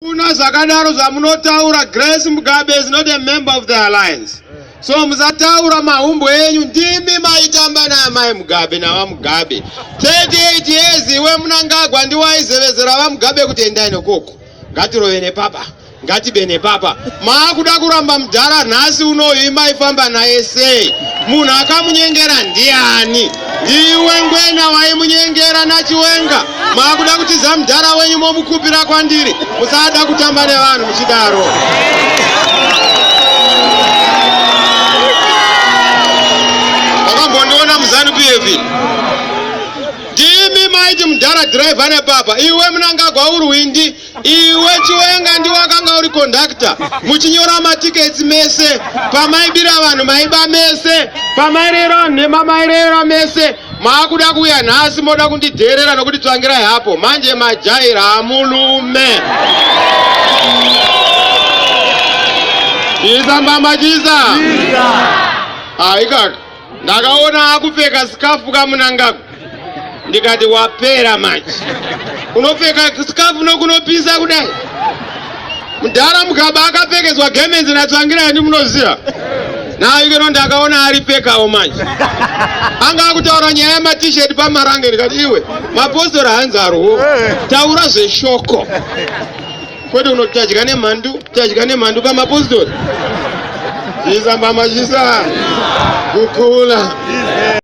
Kuna zvakadaro zvamunotaura Grace Mugabe is not a member of the alliance. So musataura mahumbo enyu ndimi maitamba naamai Mugabe navaMugabe. 38 years iwe munangagwa ndiwaizevezera vaMugabe kuti endai nokoko. Ngatirove nepapa. Ngatibe nepapa. Maakuda kuramba mudhara nhasi unoyu imaifamba naye sei? Munhu akamunyengera ndiani? Iwe ngwena waimunyengera nachiwenga maakuda kutiza mudhara wenyu momukupira kwandiri musada kutamba nevanhu muchidaro wakambondiona muzanu pf ndimi maiti mudhara dhiraivha nepapa iwe munangagwa urwindi Iwe Chiwenga ndiwe wakanga uri conductor muchinyora matickets mese pamaibira vanhu maiba mese pamairera vanhu nhema mairera mese maakuda kuuya nhasi moda kundidheerera nokuti tsvangirai hapo manje majaira hamulume chiisa mbama chiisa haikaka Ndakaona akupfeka sikafu kamunangaku ndikati wapera manje. Unopfeka sikafu nokunopisa kudai. Mudhara Mugaba akapfekedzwa gemenzi naTsvangirai ndi munoziva. Nayo ikeno ndakaona aripfekawo manje. Anga akutaura nyaya yema t-shirt pamarange ndikati iwe mapostori hanzi arwo. Taura zveshoko. kwete unoti tadya nemhandu tadya nemhandu pamapostori isambamachisa kukula